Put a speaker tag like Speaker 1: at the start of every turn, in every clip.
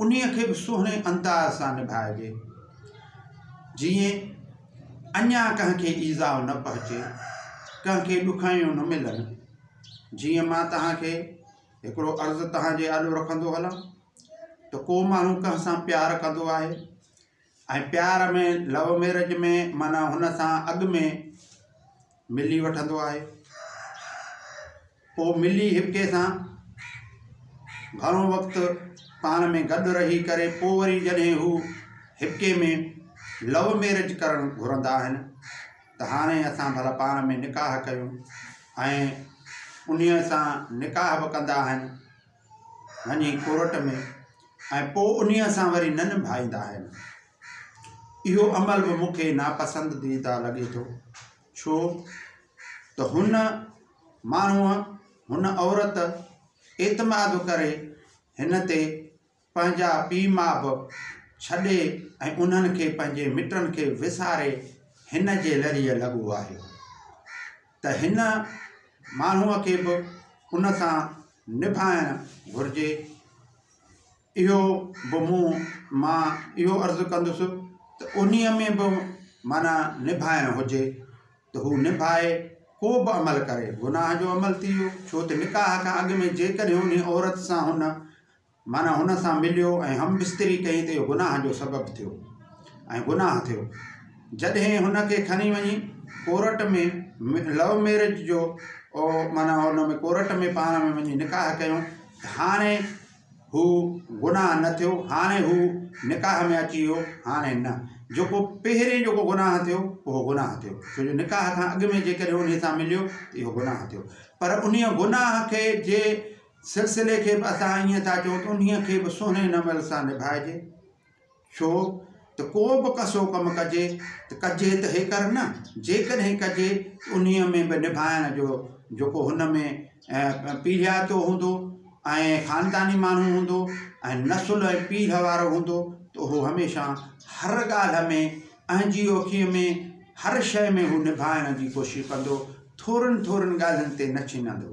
Speaker 1: انهيء کي به سهڻي انداز سان نڀائجي، جيئن اڃا ڪنهن کي ايذاء نه پهچي، ڪنهن کي ڏکايون نه ملن. جيئن مان توهان کي هڪڙو عرض توهان جي آڏو رکندو هلان ته ڪو ماڻهو ڪنهن سان پيار ڪندو آهي، ۽ پيار ۾ لو ميرج ۾ معنيٰ هن سان اڳ ۾ ملي وٺندو آهي پوء ملي هڪٻئي سان گهڻو وقت پاڻ ۾ گڏ رهي ڪري پوء وري جڏهن هو هڪٻئي ۾ لو ميرج ڪرڻ گهرندا آهن ته هاڻي اسان ڀلا پاڻ ۾ نڪاح ڪيون ۽ انهيء سان نڪاح به ڪندا آهن وڃي ڪورٽ ۾ ۽ پوء انهيء سان وري نه نڀائيندا آهن. اهو عمل به مون کي ناپسندديده لڳي ٿو، ڇو ته هن ماڻهوء، هن عورت، اعتماد ڪري هن تي پنهنجا پيء ماء به ڇڏي ۽ انهن کي پنهنجي مٽن کي وساري هن جي لريء لڳو آهيو ته هن ماڻهوء کي به ان سان نڀائڻ گهرجي اهو به مون مان اهو عرض ڪندس ته انهيء ۾ به معنيٰ نڀائڻ هجي ته هو نڀائي ڪو به عمل ڪري گناهه جو عمل ٿي ويو ڇو ته نڪاح کان اڳ ۾ جيڪڏهن انهيء عورت سان هن معنيٰ هن سان مليو ۽ هم بستري ڪئي ته اهو گناهه جو سبب ٿيو ۽ گناهه ٿيو. جڏهن هن کي کڻي وڃي ڪورٽ ۾ لو ميرج جو او معنيٰ ان ۾ ڪورٽ ۾ پاڻ ۾ وڃي نڪاح ڪيو ته هاڻي هو گناهه نه ٿيو هاڻي هو نڪاح ۾ اچي ويو هاڻي نه جيڪو پهرين جيڪو گناهه ٿيو اهو گناهه ٿيو ڇو جو نڪاح کان اڳ ۾ جيڪڏهن انهي سان مليو ته اهو گناهه ٿيو پر انهي گناهه کي جي سلسلي کي به اسان ائين ٿا چئون ته انهيء کي به سهڻي نمل سان نڀائجي. ڇو ته ڪو به ڪسو ڪم ڪجي ته ڪجي ته هيڪر نه، جيڪڏهن ڪجي ته انهيء ۾ به نڀائڻ جو جيڪو هن ۾ پيڙهياتو هوندو ۽ خانداني ماڻهو هوندو ۽ نسل ۽ پيڙهه وارو هوندو ته اهو هميشه هر ڳالهه ۾ اهنجي اوکيء ۾ هر شيء ۾ هو نڀائڻ جي ڪوشش ڪندو، ٿورن ٿورن ڳالهين تي نه ڇنندو.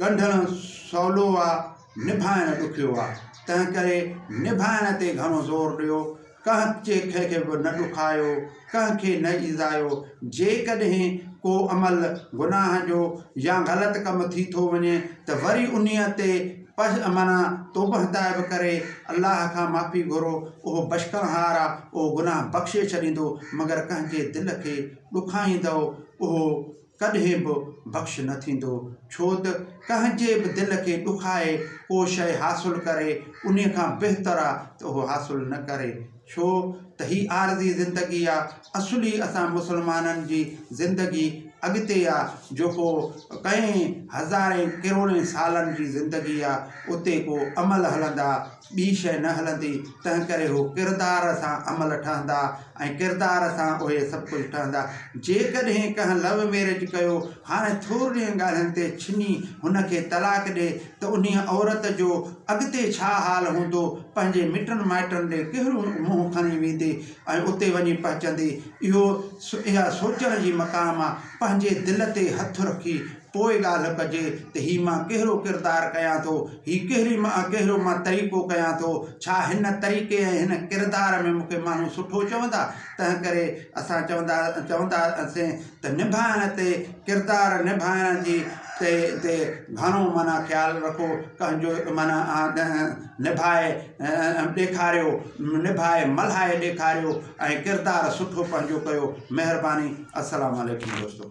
Speaker 1: ڳنڍڻ سولو آ نڀائڻ ڏکيو آ تنهن ڪري نڀائڻ تي گهڻو زور ڏيو ڪنهن ڪنهن کي به نه ڏکايو ڪنهن کي نه ايذايو جيڪڏهن ڪو عمل گناهه جو يا غلط ڪم ٿي ٿو وڃي ته وري انهي تي پش معنيٰ توبهه تائب ڪري الله کان معافي گهرو اهو بشڪڻهار آ اهو گناهه بخشي ڇڏيندو مگر ڪنهن جي دل کي ڏکائيندؤ اهو ڪڏهن به بخش نه ٿيندو، ڇو ته ڪنهن جي به دل کي ڏکائي ڪو شيء حاصل ڪري انهي کان بهتر آ ته اهو حاصل نه ڪري، ڇو ته هي عارضي زندگي آ، اصلي اسان مسلمانن جي زندگي اڳتي آ، جيڪو ڪئين هزارين ڪروڙين سالن جي زندگي آ، اتي ڪو عمل هلندا، ٻي شيء نه هلندي، تنهنڪري هو ڪردار سان عمل ٺهندا ۽ ڪردار سان اهي سڀ ڪجهه ٺهندا. جيڪڏهن ڪنهن لو ميرج ڪيو، هاڻي ٿورڙين ڳالهين تي ڇني هن کي طلاق ڏي ته انهيء عورت جو اڳتي ڇا حال هوندو، پنهنجي مٽن مائٽن ڏي ڪهڙيون منهن کڻي ويندي ۽ اتي وڃي پهچندي، اهو اها سوچڻ جي مقام آ، پنهنجي دل تي هٿ رکي، پوء ڳالهه ڪجي ته هي مان ڪهڙو ڪردار ڪيان ٿو، هي ڪهڙي مان ڪهڙو مان طريقو ڪيان ٿو، ڇا هن طريقي ۽ هن ڪردار ۾ مون کي ماڻهو سٺو چوندا؟ تنهنڪري اسان چوندا چوندا سين ته نڀائڻ تي ڪردار نڀائڻ جي تي تي گهڻو معنيٰ خيال رکو ڪنهن جو معنيٰ نڀائي ڏيکاريو نڀائي ملهائي ڏيکاريو ۽ ڪردار سٺو پنهنجو ڪيو مهرباني السلام عليڪم دوستو.